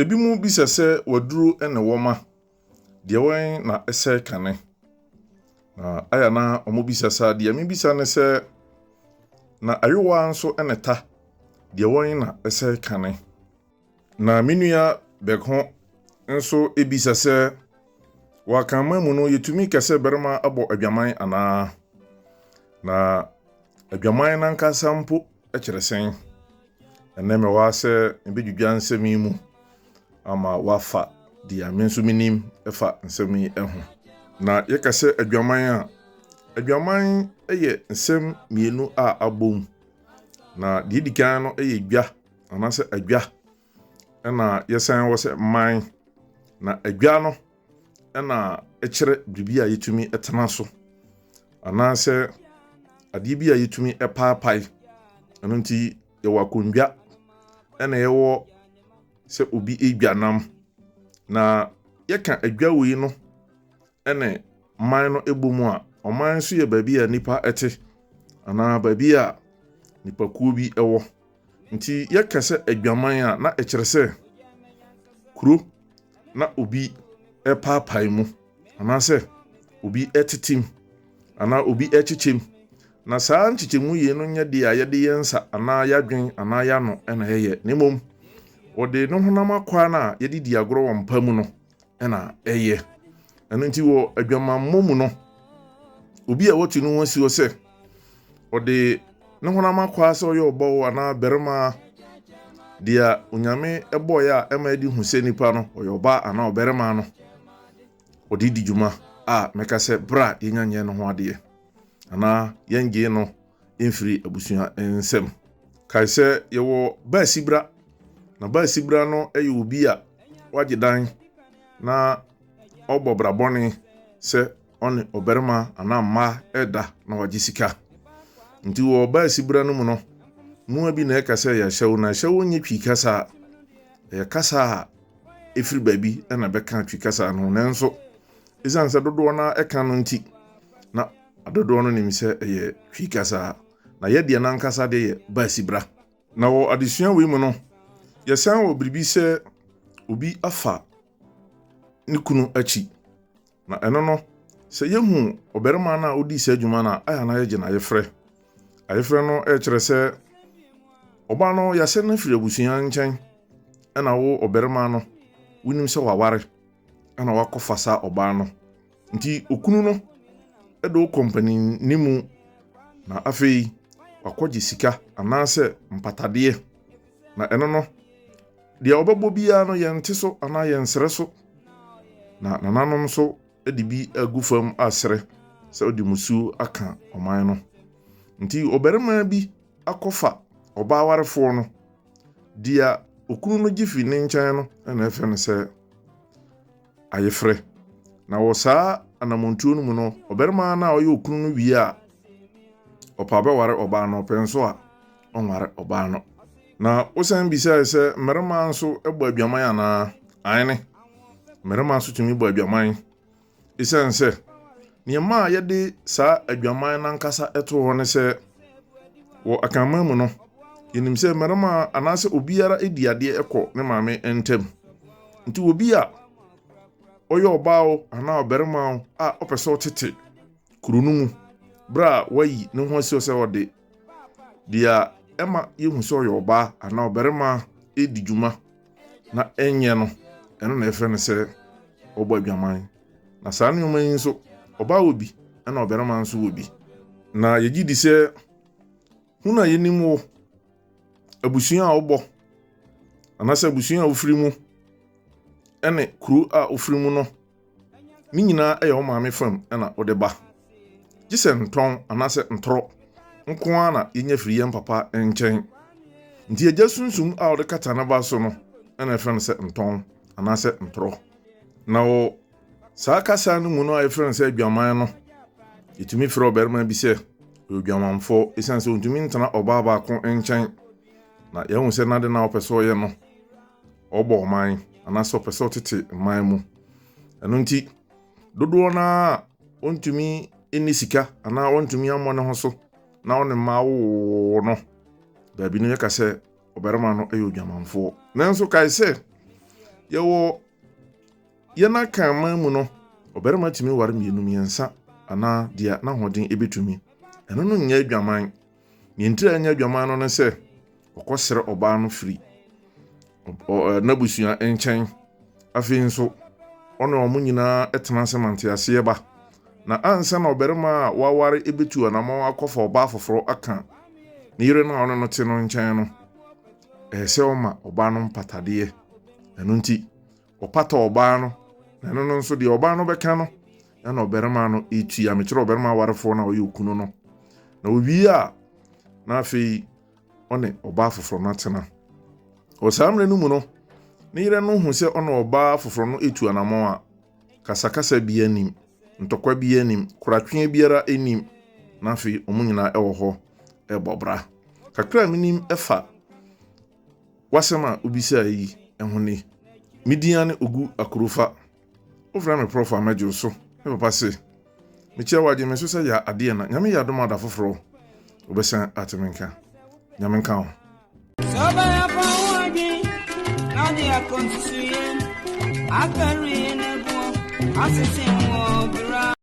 Ebinom bisa sɛ waduro ne wɔma, deɛ wɛn na ɛsɛe kane? Na aya na wɔbisa saa, deɛ mebisa ne sɛ, na ayowa nso ne ta, deɛ wɛn na ɛsɛe kane? Na me nua Bɛko nso bisa sɛ, wɔ Akanman mu no yɛtumi ka sɛ barima abɔ adwaman anaa? Na adwaman no ankasa mpo kyerɛ sɛn? Ɛnnɛ mewɔ ha sɛ mebɛdwidwa nsɛm yi mu ama wafa deɛ me nso menim fa nsɛm yi ho. Na yɛka sɛ adwaman a, adwaman yɛ nsɛm mmienu a abom. Na deɛ ɛdi kan no yɛ dwa anaasɛ adwa. ɛna yɛsan wɔ sɛ man na adwa no ɛna ɛkyerɛ biribi a yɛtumi ɛtena so anaasɛ adeɛ bi a yɛtumi ɛpaapae ɛno nti yɛwɔ akondwa ɛna yɛwɔ sɛ obi adwa nam na yɛka adwa wei no ne man no bɔ mu a, ɔman nso yɛ baabi a nnipa te anaa baabi a nnipakuo bi wɔ. Nti yɛka sɛ adwaman a, na ɛkyerɛ sɛ kuro na obi paapae mu anaasɛ obi tetem anaa obi kyekyem. Na saa nkyekyɛmu yei no nyɛ deɛ a yɛde yɛn nsa anaa yɛadwen anaa yɛano na ɛyɛ, na mmom wɔde ne honam akwaa no a yɛde di agorɔ wɔ mpa mu no na ɛyɛ. Ɛno nti wɔ adwamammɔ mu no, obi a wɔatu ne ho asi hɔ sɛ ɔde ne honam akwaa sɛ ɔyɛ ɔbɔwo anaa barima deɛ onyame bɔeɛ a ɛma ɛde hu sɛ nipa no ɔyɛ ɔbaa anaa ɔbarima no ɔde di dwuma a mɛka sɛ berɛ a yɛnya nyɛ no ho adeɛ anaa yɛngye no mfiri abusua nsam. Kae sɛ yɛwɔ baasibra, na baasibra no yɛ obi a wagye dan na ɔbɔ bra bɔne sɛ ɔne ɔbarima anaa mmaa ɛda na wagye sika. Nti wɔ baasibra no mu no, mmoa bi na ɛka sɛ yɛ ahyɛwo, na ahyɛwo nyɛ twi kasa, ɛyɛ kasa a ɛfiri baabi na bɛka twi kasa no, nanso ɛsiane sɛ dodoɔ no ɛka no nti, na Dodoɔ no nim sɛ ɛyɛ Twi kasa, na yɛ deɛ no ankasa deɛ yɛ Baasibra. Na wɔ adesua wei mu no, yɛsan wɔ biribi sɛ obi afa ne kunu akyi. Na ɛno no, sɛ yɛhu ɔbarima no a ɔdii saa dwuma no a, ayɛ a na yɛgye no ayefrɛ. Ayefrɛ no kyerɛ sɛ ɔbaa no yɛasɛ no afiri abusua nkyɛn, ɛna wo ɔbarima no, wonim sɛ waware, ɛna wakɔfa saa ɔbaa no. Nti okunu no de wo kɔ mpaninni mu na afei wakɔgye sika anaasɛ mpatadeɛ. Na ɛno no, deɛ ɔbɛbɔ biara no yɛnte so anaa yɛnsrɛ so. Na nananom nso de bi agu fam asrɛ sɛ ɔde musuo aka ɔman no. Nti ɔbarima bi akɔfa ɔbaa warefoɔ no, deɛ okunu no gye fi ne nkyɛn no na ɛfrɛ no sɛ, ayefrɛ. Na wɔ saa anamontuo no mu no, ɔbarima no a ɔyɛ okunu no wie a ɔpɛ abɛware ɔbaa no, ɔpɛ nso a ɔnware ɔbaa no. Na wosan bisae sɛ mmarima nso bɔ adwaman anaa? Aane, mmarima nso tumi bɔ adwaman. Esiane sɛ Nea ɛmaa yɛde saa adwaman no ankasa too hɔ ne sɛ, wɔ Akanman mu no, yɛnim sɛ mmarima anaasɛ obiara di adeɛ kɔ ne maame ntam. Nti obi a ɔyɛ ɔbaa o anaa ɔbarima o a ɔpɛ sɛ ɔtete kuro no mu berɛ a wayi ne ho asi hɔ sɛ ɔde Deɛ ɛma yɛhu sɛ ɔyɛ ɔbaa anaa ɔbarima di dwuma na ɛnyɛ no, ɛno na ɛfrɛ no sɛ ɔbɔ adwaman. Na saa nneɛma yi nso, ɔbaa wɔ bi na ɔbarima nso wɔ bi. Na yɛgye di sɛ hunu a yɛnim wo, abusua a wobɔ, anaasɛ abusua a wofiri mu, ne kuro a wofiri mu no, Ne nyinaa yɛ wo maame fam na wode ba. Gye sɛ ntɔn anaasɛ ntorɔ nko ara na yɛnya firi yɛn papa nkyɛn. Nti agya sunsum a ɔde kata ne ba so no na ɛfrɛ no sɛ ntɔn anaasɛ ntorɔ. Na wɔ saa kasa no mu no a yɛfrɛ no sɛ adwaman no, yɛtumi frɛ ɔbarima bi sɛ ɔyɛ odwamanfoɔ ɛsiane sɛ ɔntumi ntena ɔbaa baako nkyɛn. Na yɛahu sɛ n'ade no a ɔpɛ sɛ ɔyɛ no ɔrebɔ ɔman anaasɛ ɔpɛ sɛ ɔtete mman mu. Ɛno nti, dodoɔ no ara ɔntumi nni sika anaa ɔntumi ammɔ ne ho so na ɔne mma awowo no, baabi no yɛka sɛ ɔbarima no yɛ odwamanfoɔ. Nanso kae sɛ, yɛwɔ yɛn akan man mu no, ɔbarima tumi ware mmienu, mmiɛnsa anaa deɛ n'ahoɔden bɛtumi. Ɛno no nyɛ adwaman. Nea nti a ɛnyɛ adwaman no ne sɛ ɔkɔsrɛ ɔbaa no firi n'abusua nkyɛn. Afei nso, ɔne wɔn nyinaa tena ase ma nteaseɛ ba. Na ansa na ɔbarima a waware bɛtu anammɔn akɔfa ɔbaa foforɔ aka ne yere no a ɔne no te no nkyɛn no, ɛsɛ sɛ ɔma ɔbaa no mpatadeɛ. Ɛno nti, Ɔpata ɔbaa no, na ɛno no nso deɛ ɔbaa no bɛka no ɛna ɔbarima no ɛtua. Mekyerɛ ɔbarima awarefoɔ no a ɔyɛ okunu no. Na owie a, na afei ɔne ɔbaa foforɔ no atena. Wɔ saa mmerɛ no mu no, ne yerɛ no hu sɛ ɔne ɔbaa foforɔ no ɛtu anamɔn a, kasakasa bia nim, ntɔkwa bia nim, koratweɛ biara nim, na afei wɔn nyinaa ɛwɔ hɔ ɛbɔ bra. Kakra a menim ɛfa W'asɛm a wobisae yi ho ni, Me din ane Ogu Akurufa. Wofrɛ me prɔfo a mɛdwow so. Me papa se, Mekyia wo, agye me so sɛ yɛ adeɛ na Nyame yɛ adom a da foforɔ wobɛsan ate me nka. Nyame nka wo. Sɛ ɔbɛyɛ fa ho adwen na de akɔ nsusuiɛ, afɛre ne boɔ asese wɔ bra.